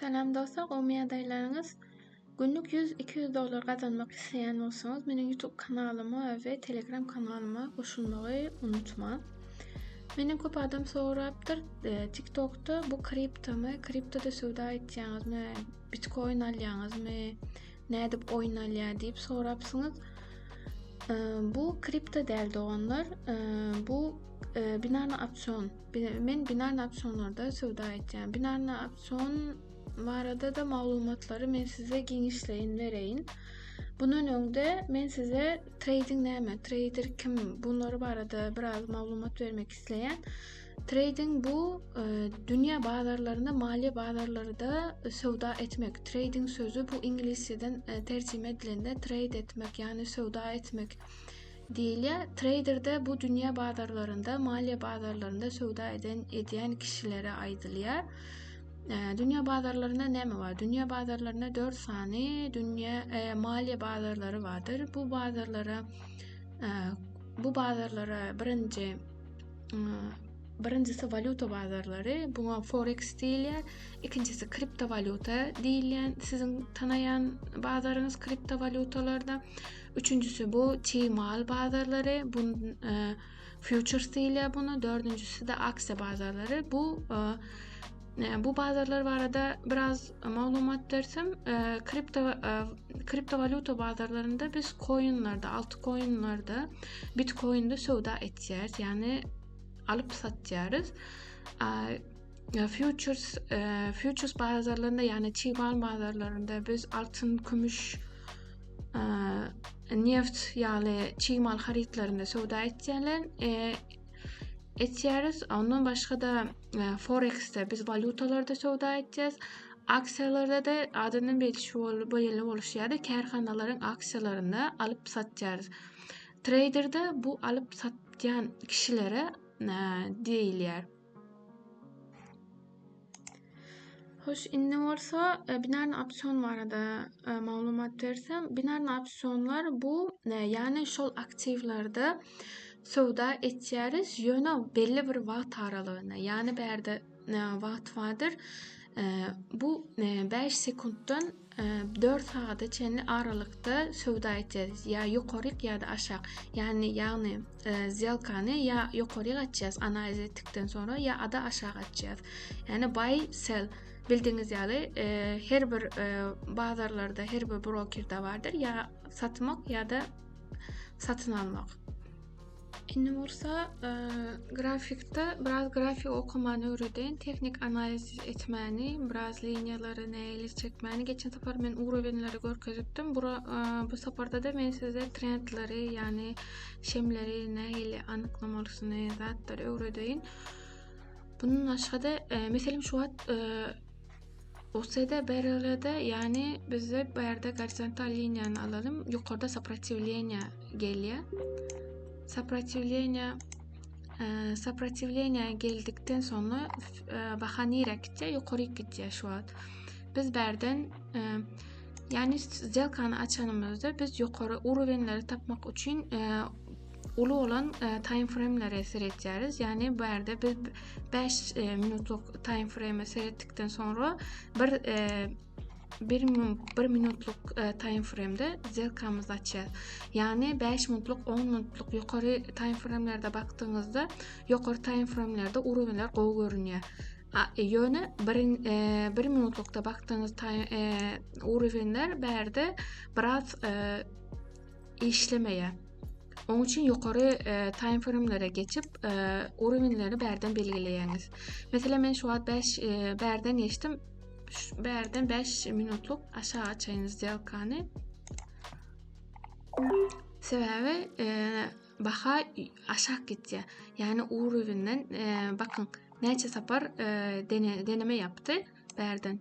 Salam dostlar gowmy ýagdaýlaryňyz Günlük ýüz iki ýüz dollar gazanmak isleýän bolsaňyz meniň YouTube kanalyma we Telegram kanalyma goşulmagy unutmaň. Meni köp adam sorapdyr e, TikTokda bu kriptomy, kriptoda söwda etýäňizmi, bitcoin alýaňyzmy, nädip oýun alýar diýip sorapsyňyz. E, bu kripto däl doganlar, e, bu binarny opsion Men binary opsionlarda söwda etýän. Binary opsion barada-da maglumatlary men size giňişleýin bereýin. Bundan öňde men size trading näme, trader kim, bunlar barada biraz maglumat bermek isleýän. Trading bu e, dünýä bazarlarynda, maliýe bazarlarynda söwda etmek. Trading sözü bu iňlisçeden e, terjime edilende trade etmek, ýagny söwda etmek Diýilýär, treýderde bu dünýä bazarlarynda, maliýe bazarlarynda söwda eden edýän kişilere aýdylýar. Dünýä bazarlarynda näme bar? Dünýä bazarlarynda 4 sany dünýä e, maliýe bazarlary bardyr. Bu bazarlara e, bu bazarlara birinji e, Birincisi walýuta bazarlary, buňa forex diýilýär. Ikinjisi kriptowalýuta diýilýän, siziň tanaýan bazaryňyz kriptowalýutalarda. Üçünjisi bu çig mal bazarlary, bu e, futures diýilýär buna. Dördünjisi de aksiýa bazarlary. Bu e, e, bu bazarlar barada biraz maglumat bersem, kripto kriptowalyuta bazarlarynda biz koinlerde, altı koinlerde, bitkoinde söwda etýäris, ýagny alyp satýarys. E, futures futures bazarlarynda, ýagny çig mal bazarlarynda biz altyn, kümüş, neft ýaly çig mal harytlaryny söwda etýärler. E, etýäris. Ondan başga da e, forex-de biz walýutalarda söwda etýäris. Aksiýalarda da adyndan belli şu bolýan bolşy ýaly kärhanalaryň aksiýalaryny alyp satýarys. Treýderde bu alyp satýan kişilere e, diýilýär. Hoş, indi bolsa e, binarny opsion barada e, maglumat bersem, binarny opsionlar bu, e, ýagny şol aktiwlerde söwda etýäris, ýöne belli bir wagt aralygyna, ýagny bärde e, wagt bardyr. E, bu 5 e, sekuntdan dört sagada çenli aralykda söwda etýäris. Ýa ýokaryk ýa-da aşak. Ýagny ýagny e, zelkany ýa ýokaryk açýas analiz etdikden sonra ýa ada aşak açýas. Ýagny buy sell bildiňiz ýaly e, her bir e, bazarlarda her bir brokerde bardyr ýa satmak ýa-da satyn almak. Indi bolsa e, grafikde biraz grafik okumany öwreden, tehnik analiz etmäni, biraz liniýalary näle çekmäni. Geçen sapar men urowenleri görkezipdim. Bu e, bu saparda da men size trendleri, ýagny şemleri näle anyklamalysyny, zatlary öwredeýin. Bunun başga-da, e, meselem şu wagt e, Usede BRL-de, ýagny bizde bu ýerde gorizontal liniýany alalym, ýokarda soprotiwleniýa gelýär. Soprotiwleniýa soprotiwleniýa geldikden soňra baha nirä gitýär? Ýokary gitýär şu wagt. Biz bärden ýagny сделкany açanymyzda biz ýokary urowenleri tapmak üçin uly bolan time frame-lere seretýäris. Ýagny bu ýerde biz 5 minutlyk time frame-e seretdikden soňra bir bir, bir minutluk e, time frame-de zerkamyzy açýar. Ýagny 5 minutluk, 10 minutluk ýokary time frame-lerde bakdygyňyzda, ýokary time frame-lerde urunlar gowy görünýär. E, ýöne 1 e, bir minutlukda bakdygyňyz time e, urunlar bärde biraz e, işlemeýär. Oň üçin ýokary e, time framelere geçip, e, uruwinleri bärden belgileýäňiz. Meselem, men şu wagt 5 e, bärden geçdim. Bärden 5 minutlyk aşağı açaýyn zdelkany. Sebäbi e, baha aşak gitýär. Ýani uruwinden e, bakyň näçe sapar e, dene, deneme ýapdy bärden.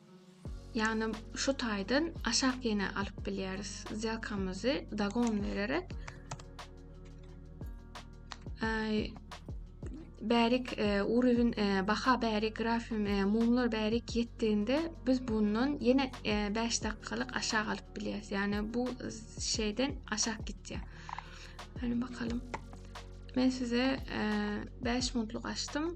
Ýagny şu taýdan aşak ýene alyp bilýäris. Zelkamyzy dagon bererek bärik e, urüwin e, baha bärik grafim e, mumlar bärik ýetdiğinde biz bundan ýene 5 dakikalyk aşak alyp bilýäris. Ýagny bu şeyden aşak gitýär. Hany bakalım. Men size 5 minutlyk açdym.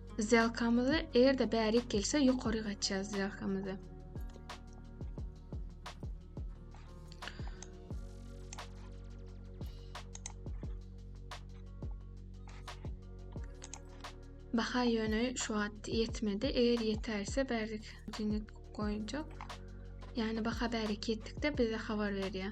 Zýalkamyzy eger-de bärik gelse ýokaryk açýas zýalkamyzy. Baha ýöne şu wagt ýetmedi. Eger ýeterse bärik jini goýjak. Ýani baha bärik ýetdikde bize habar berýär.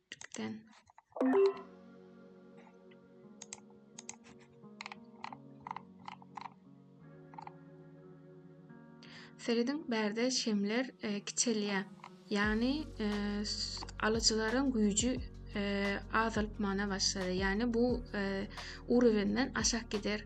Ýüpden. Serediň, bärde şemler e, kiçelýär. Ýagny e, alyjylaryň güýji e, azalyp mana başlady. Ýagny bu e, urwenden aşak gider.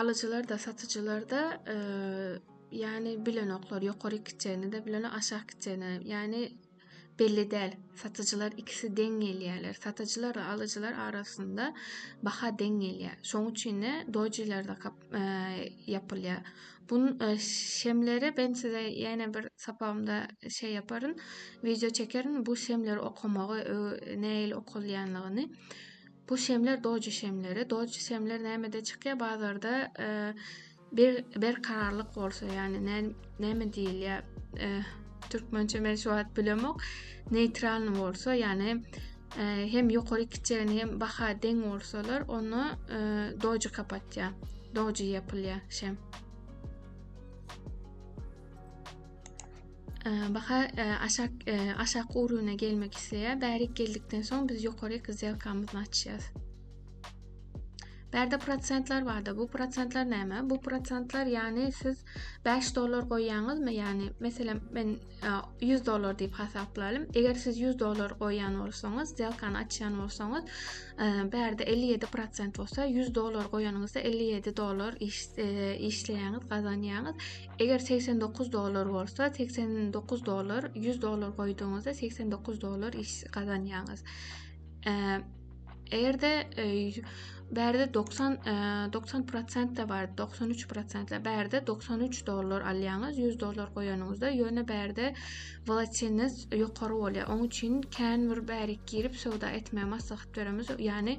Alyjylar-da, satyjylar-da ýany bilenoklar, ýokary kiçeni-de bilenok, aşak kiçeni. Ýany belli däl. Satyjylar ikisi deň gelýärler. Satyjylar we alyjylar arasynda baha deň gelýär. Şonuň üçin-de dojilerde kap e, ýapylýar. Bu e, şemleri ben size ýene bir sapagymda şey yaparyn, video çekerin. Bu şemleri okamagy, neil okalýanlygyny. Bu şemler doji şemleri. Doji şemler nämede çykýar? Bazarda e, bir berkararlyk bolsa, ýagny näme diýilýär? E, türkmençe men şu wagt bilemok. Neytralny bolsa, ýagny e, hem ýokary kiçegini hem baha deň bolsalar, onu e, doji kapatýar. Doji ýapylýar şem. Baha aşak aşak urugyna gelmek isleýär. Bärik geldikden soň biz ýokary zelkamyzy açýas. Bärde prosentler barda. Bu prosentler näme? Bu prosentler ýany siz 5 dollar goýýaňyzmy? Ýani meselem men 100 dollar diýip hasaplarym. Eger siz 100 dollar goýýan bolsaňyz, zelkany açýan bolsaňyz, bärde 57 prosent bolsa 100 dollar goýanyňyzda 57 dollar işleýäňiz, gazanýaňyz. Eger segsen dokuz dollar bolsa, segsen dokuz dollar, ýüz dollar goýdugyňyzda segsen dokuz dollar iş gazanýaňyz. Eger-de bärde 90 90 prosent de bar, 93 prosent de bärde 93 dollar alýaňyz, 100 dollar goýanyňyzda, ýöne bärde volatiliniz ýokary bolýar. Oň üçin kän bir bärik girip söwda etmegi maslahat beremiz. Ýani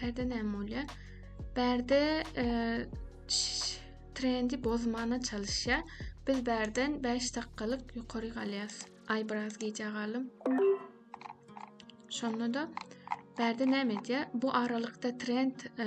Bärde näme bolýar? Bärde e, trendi bozmana çalışýar. Biz bärden 5 dakikalyk ýokary galýas. Ay biraz gijä galym. Şonda da bärde näme edýär? Bu aralykda trend e,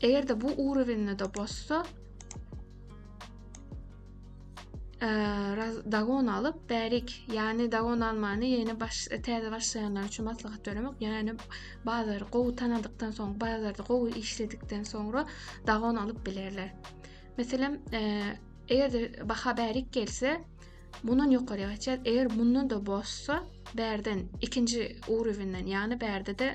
Eger-de bu urowenyny-da bozsa, dagon alyp bärik ýany dagon almany ýene baş täze başlaýanlar üçin maslahat bermek ýany bazary gowy tanadykdan soň bazarda gowy işledikden soňra dagon alyp bilerler meselem eger-de baha bärik gelse mundan ýokary gaçýar eger mundan da bozsa bärden ikinji uruwinden ýany bärde de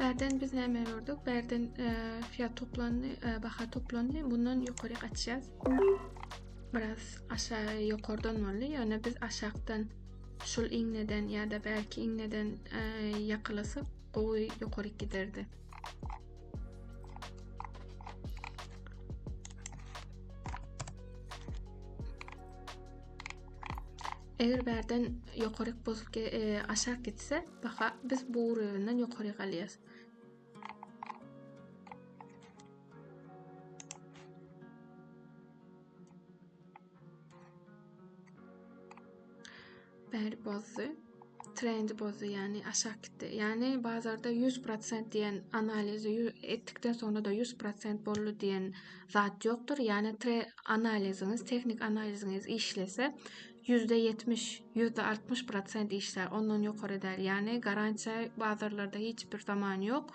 Bärden biz näme gördük? Bärden e, fiyat toplandy, e, baha toplandy. Bundan ýokary gaçýas. Biraz aşağı ýokardan boldy. Ýöne biz aşakdan şul iňneden ýa-da bärki iňneden e, ýakalasak, gowy ýokary giderdi. Eger bärden ýokaryk bozup e, aşak gitse, baha biz bu uruwyndan ýokary galýas. Bäri bozdy. Trendi bozdy, ýagny aşak gitdi. Ýagny bazarda 100% diýen analizi etdikden soňra da 100% boldy diýen zat ýokdur. Ýagny tre analiziňiz, tehnik analiziňiz işlese, %70, %60% işlär. Ondan ýokary däl. Ýagny garantiýa bazarlarda hiç bir zaman ýok.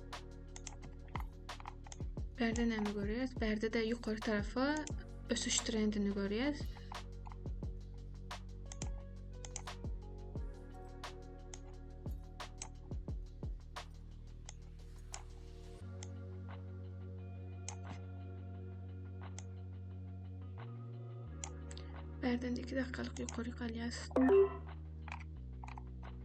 Bärde näme görýäs? Bärde-de ýokary tarapa ösüş trendini görýäs. Bärden 2 dakikalyk ýokary galýas.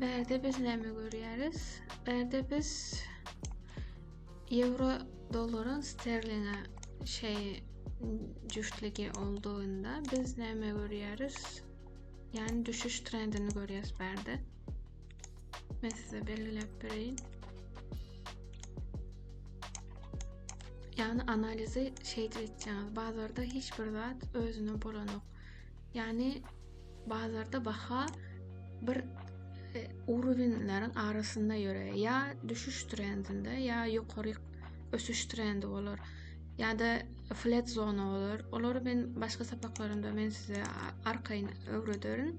Berde biz näme görýäris? Berde biz euro dollaryň sterlinge şey jüştligi olduğunda biz näme görýäris? Yani düşüş trendini görýäris berde. Men size belgiläp bereýin. Ýagny analizi şeýdip etjäňiz. Bazarda hiç bir zat özüne bolanok. Ýagny bazarda baha bir e, uruwinleriň arasynda ýörer. Ýa düşüş trendinde, ýa ýokary ösüş trendi bolar. Ýa da flat zona bolar. Olary men başga sapaklarymda men size arkaýyn öwrederin.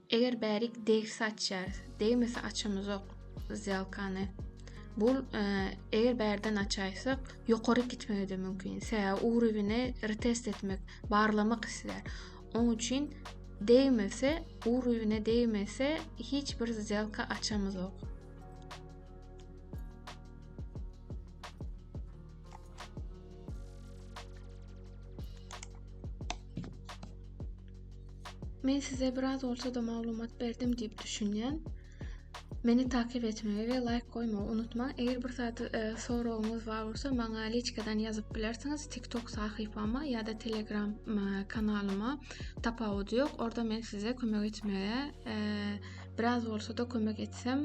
Eger bärik degsi açýarys, degmese açamyzok zýalkany. Bu eger bärden açaýsak, ýokary gitmegi-de mümkin. Sebäbi ugrubini retest etmek, barlamak islär. Oň üçin degmese, ugrubine degmese hiç bir zýalka açamyzok. Men size biraz bolsa-da maglumat berdim diýip düşünýän. Meni takip etmegi we laýk goýmagy unutmaň. Eger bir zat e, soragyňyz bar bolsa, maňa liçkadan ýazyp bilersiňiz. TikTok sahypama ýa-da Telegram e, kanalyma tapawut ýok. Orda men size kömek etmege e, biraz bolsa-da kömek etsem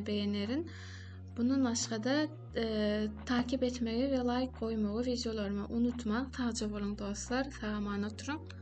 beýenerin. Bundan başga-da takip etmegi we laýk goýmagy wideolaryma unutmaň. Sagja boluň dostlar, sag-aman oturyň.